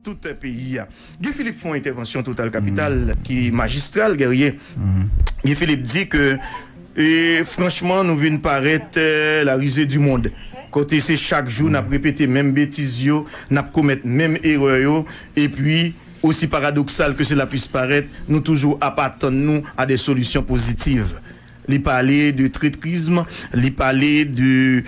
tout peyi a. Guy Philippe fè yon entèvansyon total kapital ki majistral Guerrier. Guy Philippe di ke e franchman nou vin parèt la rize di mond kote se chak jou nap repete menm betiz yo, nap komèt menm erè yo epi osi paradoksal ke sela pwis parèt nou toujou ap atann nou a de solisyon pozitiv. Li pale de tretrism, li pale de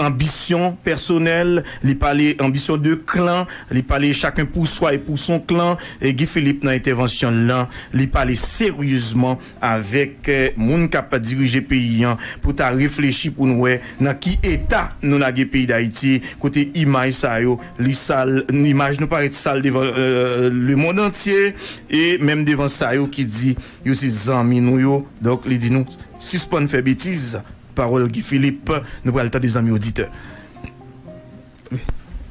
anbisyon pèsonèl, li pale anbisyon de klan, li pale chacun pour soi et pour son clan. Guy Philippe nan entèvansyon l lan, li pale seryezman avèk moun k ap dirije peyi an pou ta reflechi pou n wè nan ki eta nou lage peyi Dayiti kote imaj sa yo li sal, imaj nou parèt sal devan lemond antye e menm devan sa yo ki di Yo se zanmi nou yo, donk li di nou sispann fè betiz, pawòl Guy Philippe nou pral tande zanmi oditè. Wi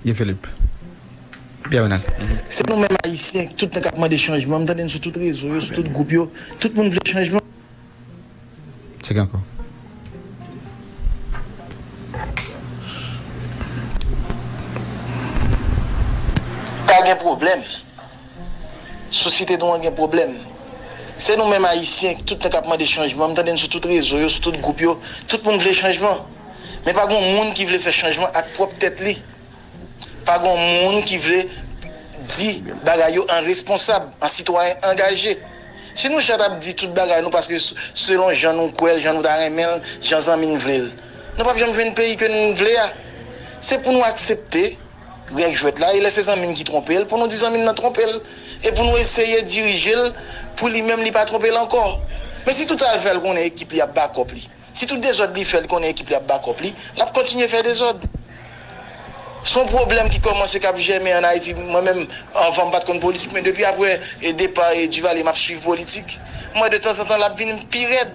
Guy Philippe. Pierre Renald. Se nou menm ayisyen tout tan kap mande chanjman, m tande n sou tout rezo yo, sou tout gwoup yo, tout moun vle chanjman. Tcheke ankò. Pa gen pwoblèm. Sosyete nou an gen pwoblèm. Se nou menm Ayisyen ki tout tan k ap mande chanjman. M tande n sou tout rezo yo, sou tout gwoup yo. Tout moun vle chanjman. Men pa gon moun ki vle fè chanjman ak pwòp tèt li. Pa gon moun ki vle di bagay yo an responsab, an sitwayen angaje. Si nou chat ap di tout bagay nou paske selon jan nou kwè l, jan nou ta renmen l, jan zanmi n vle l. Nou p ap janm jwenn peyi ke n vle a. Se pou nou aksepte. Règ jwèt la e lè se zanmi n ki twonpe l pou nou di zanmi n nan twonpe l e pou nou eseye dirije l pou li menm li pa twonpe l ankò. Men si tout sa l fè l konnen ekip li ap bakòp li, si tout dezòd li fè li konnen ekip li ap bakòp li, l ap kontinye fè dezòd. S on pwoblèm ki kòmanse, k ap jèmen ann Ayiti. Mwen menm, anvan m pa t konn politik men depi aprè depa Duvalier m ap swiv politik. M wè de tanzantan l ap vin pi rèd.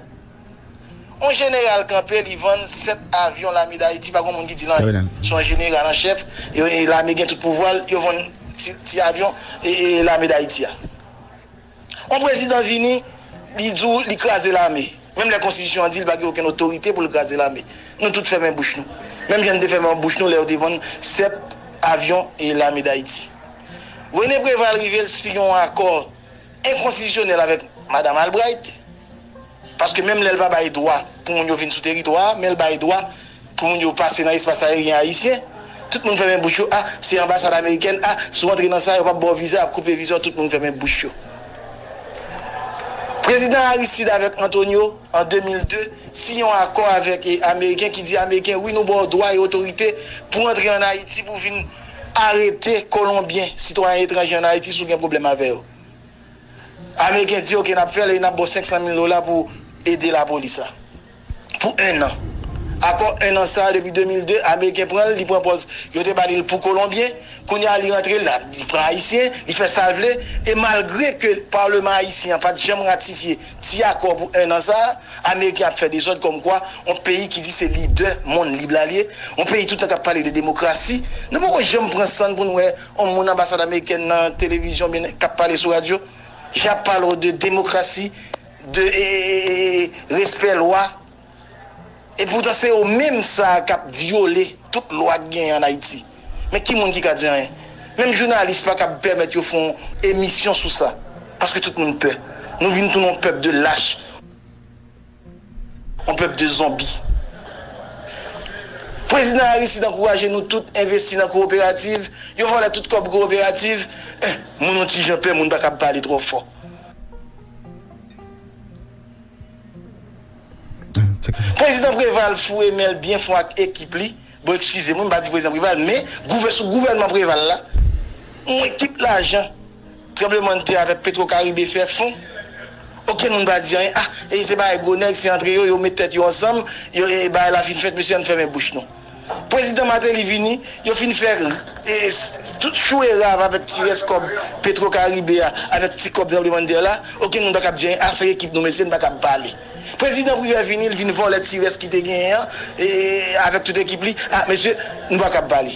On jeneral kanpe li vann 7 avyon lame dayiti pa gon moun ki dil anyen son jeneral an chèf lame gen tout pouvwal yo vann ti avyon lame dayiti a on prezidan vini li di w li kraze lame menm lè konstitisyon an di l pa gen okenn otorite pou l kraze lame nou tout fèmen bouch nou menm jan n te fèmen bouch nou lè yo te vann 7 avyon lame dayiti Rene Preval rive l siy on akò. enkonstitisyonèl avèk Madam Albright, paske menm lè l pa bay dwa pou moun yo vin sou teritwa a, men l bay dwa pou moun yo pase nan espas ayeryen ayisyen, tout moun fèmen bouch yo, a, se anbasad amerikèn, a, si w antre nan sa, yo p ap ba w viza, y ap koupe viza w, tout moun fèmen bouch yo. Prezidan Aristide avèk Antonio, an 2002, siyen yon akò avèk ameriken ki di ameriken, wi nou ba w dwa e otorite pou w antre an Ayiti pou w vin Arete kolonbyen sitwayen etranje an Ayiti si w gen pwoblèm avè yo. Ameriken di ok n ap fè l e n ap ba w 500 mil dola pou ede lapolis la pou ennan. Akò ennan sa a depi 2002 ameriken pran l li pran pòz yo te ba li l pou kolonbyen kounye a li rantre li pran ayisyen li fè sa l vle e malgre ke palman ayisyen an pa t janm ratifye Ti akò pou 1 an sa a, ameriken ap fè dezòd kòmkwa yon peyi ki di se lidè monn lib la li ye, yon peyi tout tan k ap pale de demokrasi, nou poko janm pran san n pou n wè yon moun anbasad amerikèn nan televizyon oubyen k ap pale sou radyo, jan y ap pale w de demokrasi, de respè lwa. Epoutan se yo menm sa a kap vyole tout lwa ki genyen an Ayiti. Men ki moun ki ka di anyen? Menm jounalis pa kab pèmèt yo fon emisyon sou sa. Paske tout moun pè. Nou vin tounen yon pèp de lach. Yon pèp de zonbi. Prezidan Aristide ankouraje nou tout envesti nan kowoperativ. Yo vòlè tout kòb kowoperativ. Eh! Moun yon ti jan pè moun pa kab pale twò fò. Prezidan Preval foure men l byen fon ak ekip li, bon ekskize mwen m pa di prezidan Preval men gouve sou gouvènman Preval la mwen tout lajan tranblemann tè avèk petro karibe fè fon okenn moun pa di anyen ah e se bagay gwo nèg se antre yo yo met tèt yo ansanm yo e bagay la fin fèt mesye ann fèmen bouch nou. Prezidan Martelly vini, yo fin fè tout chou e rav avèk ti rès kòb Petro Caribe a, avèk ti kòb tranblemandtè la, okenn moun pa kab di anyen, ase ekip nou mesye, n pa kab pale. Prezidan Privè vini, l vin vòlè ti rès ki te genyen an, avèk tout ekip li, a mesye, nou pa kab pale.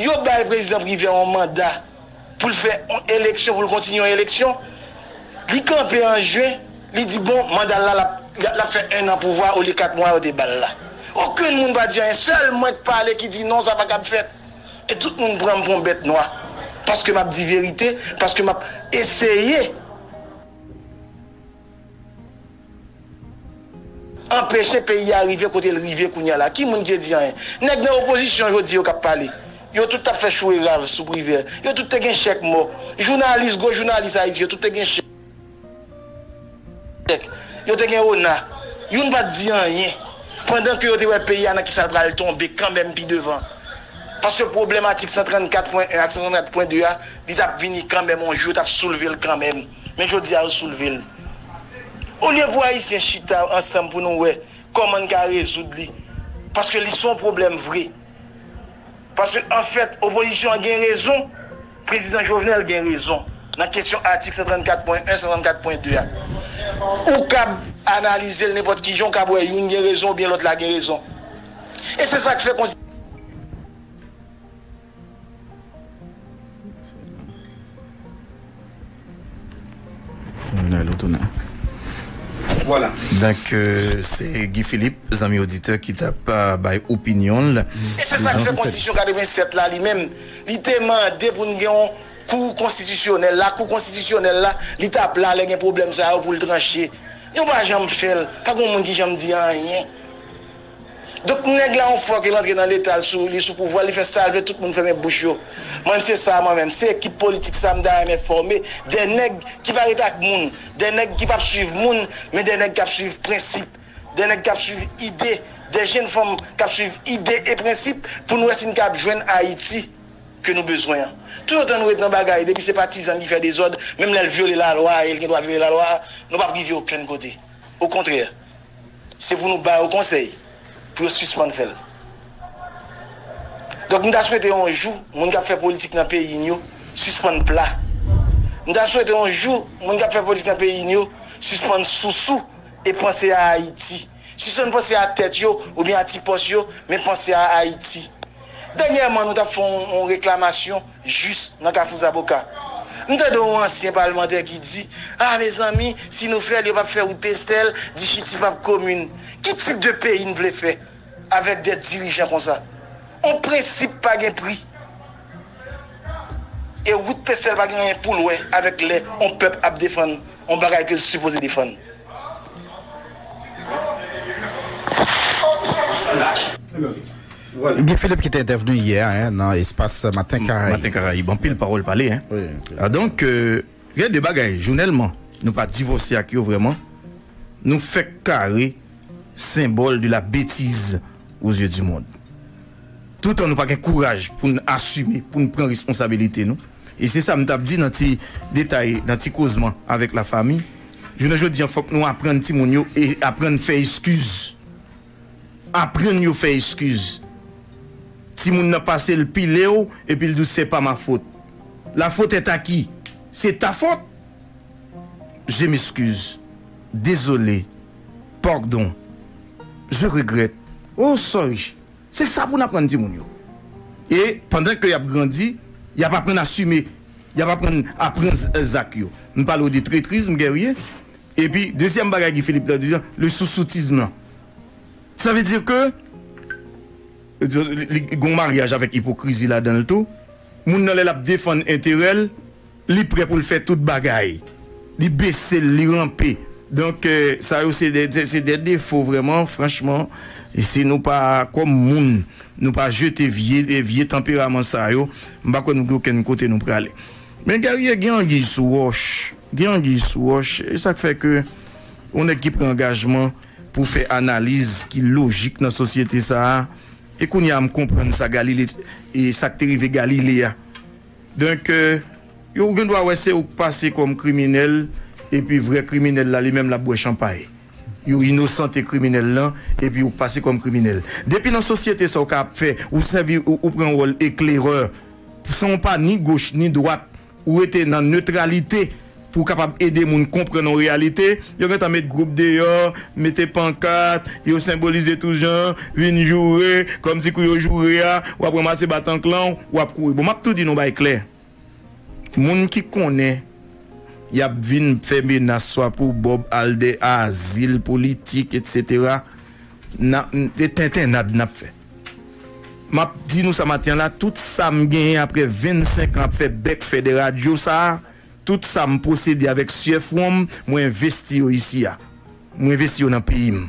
Yo bay Prezidan Privè yon manda. pou l fè yon eleksyon, pou l kontinye yon eleksyon. Li kanpe an jen, li di bon manda l la l ap fè ennan pouvwa olye kat mwa yo te ba l la. Okenn moun pa di anyen, sèl mwen k pale ki di non sa pa kab fèt. E tout moun pran m pou yon bèt nwa paske m ap di verite, paske m ap eseye. Anpeche peyi a rive kote l rive kounya la. Ki moun ki te di anyen? Nèg nan opozisyon jodi yo k ap pale. Yo tout t ap fè chou e rav sou Privè. Yo tout te gen chèk mò. Jounalis, gwo jounalis Ayiti yo tout te gen chèk. Yo te gen ona. Youn pa t di anyen. Pandan ke yo te wè peyi a nan kisa l pral tonbe kanmenm pi devan. Paske pwoblèm atik 134 pwen 1 ak 134 pwen 2 a, li t ap vini kanmenm yon jou yo t ap soulve l kanmenm. men jodi a yo soulve l. Olye pou Ayisyen chita ansanm pou nou wè kòman n ka rezoud li, paske li se yon pwoblèm vre. Paske anfèt opozisyon an gen rezon, Prezidan Jovenel gen rezon nan kesyon atik 134 pwen 1, 134 pwen 2 a. Ou kab analize l nenpòt ki jan, ou kab wè youn gen rezon oubyen lòt la gen rezon. E se sa k fè. Voilà donc c'est Guy Philippe zanmi auditeur ki tap bay opinion l. E se sa k fè konstitisyon 87 la li menm li te mande pou n gen yon kou konstitisyonèl la kou konstitisyonèl la li t ap la lè gen pwoblèm sa yo pou l tranche yo pa janm fè l pa gen yon moun ki janm di anyen. Donk nèg la yon fwa ke l antre nan leta l sou li sou pouvwa li fè sa l vle tout moun fèmen bouch yo m'en se sa mwen menm se ekip politik sa m ta renmen fòme de nèg ki pa ret ak moun de nèg ki pap swiv moun men de nèg kap swiv prensip de nèg kap swiv ide de jenn fanm kap swiv ide e prensip pou n wè si n kab jwenn Ayiti ke nou bezwen an toutotan nou ret nan bagay depi se patizan ki fè dezòd menm lè l vyole lalwa e l gen dwa vyole lalwa nou pap rive okenn kote okontrè Se pou nou ba yo konsèy pou yo sispann fè l. Donk m ta swete yon jou moun k ap fè politik nan peyi n yo sispann pla. M ta swete yon jou moun k ap fè politik nan peyi n yo sispann sousou e panse a Ayiti. Sispann panse a tèt yo oubyen a ti pòs yo men panse a Ayiti. Dènyèman nou t ap fè yon reklamasyon jis nan Kafou Zaboka. M tande yon ansyen palmantè ki di, Ah mezanmi, si nou fè l, yo p ap fè wout Pestèl, Dichiti p ap komin. Ki tip de peyi n vle fè avèk de dirijan konsa? On prensip pa gen pri. E wout Pestèl pa gen anyen pou l wè avèk lè on pèp ap defann on bagay ke l sipoze defann. Guy Philippe ki te entèvni yè a nan espas Maten Karayib. Maten Karayib, anpil pawòl pale hein. Donk gen de bagay jounèlman nou pa divòse ak yo vrèman, nou fèk kare senbòl de la betiz o zye di mond. Toutan nou pa gen kouraj pou n asime, pou n pran responsabilite nou. E se sa m t ap di nan ti detay, nan ti kozman avèk la fami, jounen jodi an fòk nou aprann timoun yo e aprann fè eskiz. Aprann yo fè eskiz. Timoun nan pase l pile w epi l di w se pa ma fot. La fot est a ki? Se ta fot? Je m'excuse. Dezole. Pardon. Je regrette. Oh sorry. Se sa pou n aprann timoun yo. E pandan ke y ap grandi, y ap aprann asime. Y ap aprann a pran zak yo. M pale w de tretrizm, guerrier. Epi dezyèm bagay Guy Philippe ta di a, le sousoutisme lan. Sa vle di ke li gen yon maryaj avèk ipokrizi ladan l tou. Moun nan lè l ap defann enterè l, li prè pou l fè tout bagay. Li bese l, li ranpe. Donk sa yo se de defo vrèman franchman si nou pa kòm moun nou pa jete vye tanperaman sa yo m pa kwè nou gen okenn kote nou prale. Men Guerrier gen anguiy sou wòch, gen anguiy sou wòch, e sak fè ke yon nèg ki pran angajman pou fè analiz ki lojik nan sosyete sa a, e kounye a m konprann sa Galile, e sak te rive Galile a. Donk yo gen dwa wè se ou k pase kòm kriminèl, epi vrè kriminèl la li menm l ap bwè chanpay. Yo inosante kriminèl lan, epi ou pase kòm kriminèl. Depi nan sosyete sa ou ka ap fè, ou sèvi, ou pran wòl eklerè. San w pa ni goch ni dwat, ou rete nan netralite pou w kapab ede moun konprann yon reyalite. Yo gentan met gwoup deyò, mete pankat, yo senbolize tout jan, vin joure, kòmsi kou yo joure a, w ap ranmase batan klan w, w ap kouri. Bon, m ap tou di nou bagay klè, moun ki konnen y ap vin fè menas swa pou Bob Alder, azil politik, etsetera, nan, se tentennad n ap fè. Map di nou sa maten la, tout sam genyen aprè 25 an ap fè bèk fè dè radyo sa, tout sam posede avèk syè fwon m, mwen envesti yo isi a. Mwen envesti yo nan peyi m.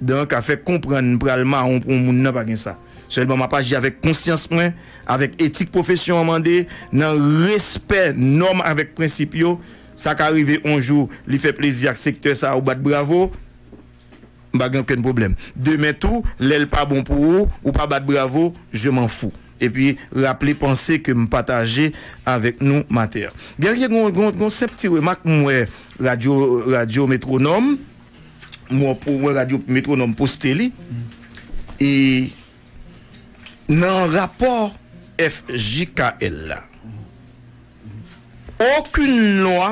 Donk a fè konprann m pral mawon pou yon moun nan pa gen sa. Sèlman map aji avèk konsyans mwen, avèk etik pwofesyon an mande, nan respè nòm avèk prensip yo. Sa ka rive yon jou li fè plezi ak sektè sa ou bat bravo. M pa gen okenn pwoblèm. Demen tou, lè l pa bon pou ou, ou pa bat bravo, je m'en fous. Epi, raple panse ke m pataje avèk nou maten an. Guerrier, gen yon senp ti remak m wè radyo, radyo Métronome, m wè radyo Métronome poste li, e nan rapò FJKL la, okenn lwa.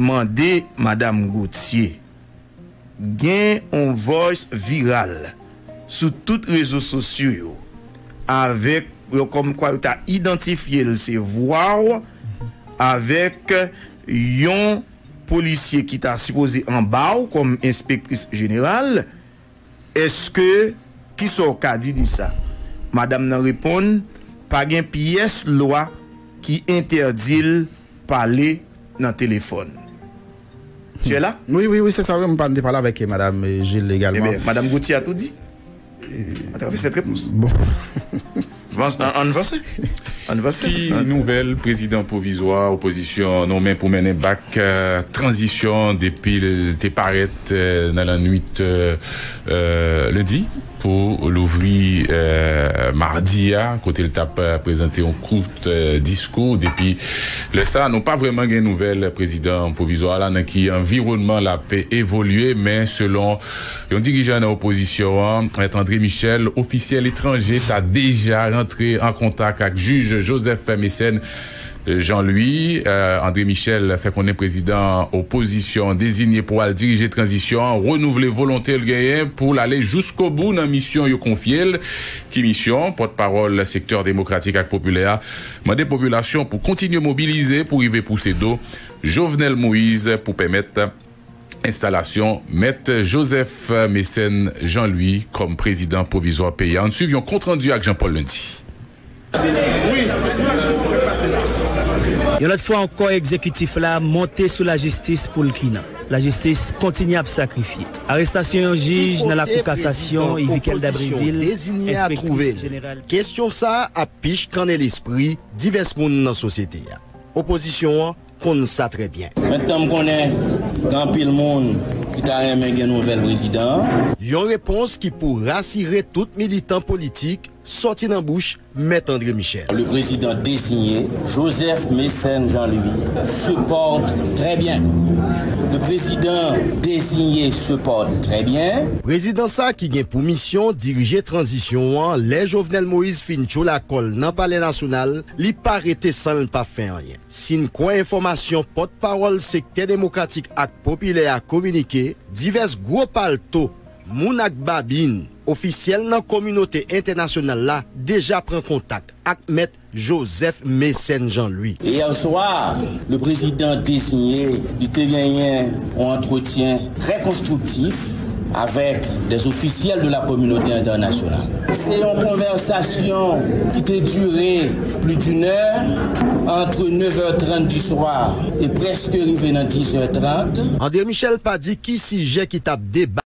Mande madam Gauthier. Gen on voice viral sou tout rezo sosyo yo avèk yo kòm kwa yo ta idantifye l se vwa w avèk yon polisye ki ta sipoze anba w kòm enspektris jeneral Èske, ki sa w ka di de sa? Madam nan reponn, Pa gen pyès lwa ki entèdi l pale nan telefòn. Tu es là? Wi, wi, wi, se sa, wi, m te pale avèk Madam Gilles egalman. Enben, Madam Gauthier a tou di atravè sèt repons. Bon. Ann vanse. Ann vanse. Ki nouvèl prezidan pwovizwa opozisyon an nonmen pou mennen bak tranzisyon an depi l te parèt nan lannwit lendi pou louvri madi a kote l t ap prezante yon kout diskou. Depi lè sa nou pa vrèman gen nouvèl prezidan pwovizwa a la nan ki anviwònman l ap evolye men selon Yon dirijan nan opozisyon an, Mèt André Michel, ofisyèl etranje ta deja rantre an kontak ak jij Joseph Mécène Jean Louis. André Michel fè konnen prezidan opozisyon an dezinye pou al dirije tranzisyon an renouvle volonte l genyen pou l ale jouskobou nan misyon yo konfye l. Ki misyon? Pòt pawòl sektè demokratik ak popilè a mande popilasyon pou kontinye mobilize pou rive pouse do Jovenel Moïse pou pèmèt. Enstalasyon Mèt Joseph Mécène Jean Louis kòm prezidan pwovizwa peyi a, ann swiv yon kont randi ak Jean Paul Lundy. Yon lòt fwa ankò egzekitif la monte sou lajistis pou l ki nan. Lajistis kontinye ap sakrifye. Arestasyon yon jij nan lakou kasasyon Yvikelda Brésil, enspektris jeneral ki. Kesyon sa ap pichkannen lespri divès moun nan sosyete a. Opozisyon an. konn sa trè byen. Mentnan m konnen gen anpil moun ki ta renmen gen nouvèl prezidan an. Yon repons ki pou rasire tout militan politik sòti nan bouch Mèt André Michel. Le prezidan desinye, Joseph Mécène Jean Louis, se pòte trè byen. Le prezidan desinye se pòte trè byen. Prezidan sa ki gen pou misyon dirije tranzisyon an lè Jovenel Moïse fin tchola kò l nan Palè Nasyonal, li pa rete san l pa fè anyen. Si n kwè enfòmasyon pòt pawòl sektè demokratik ak popilè a kominike, divès gwo palto, moun ak babin, ofisyèl nan kominote entènasyonal la deja pran kontak ak mèt Joseph Mécène Jean Louis. Yè swa, le prezidan deziye li te genyen yon antretyen Trè konstriktif avèk des ofisyèl de la kominote entènasyonal. Se yon konvèsasyon ki te dire pli d'une è, antre 9 è 30 di swa e prèske rive nan 10 è 30. André Michel pa di ki sijè ki t ap deba.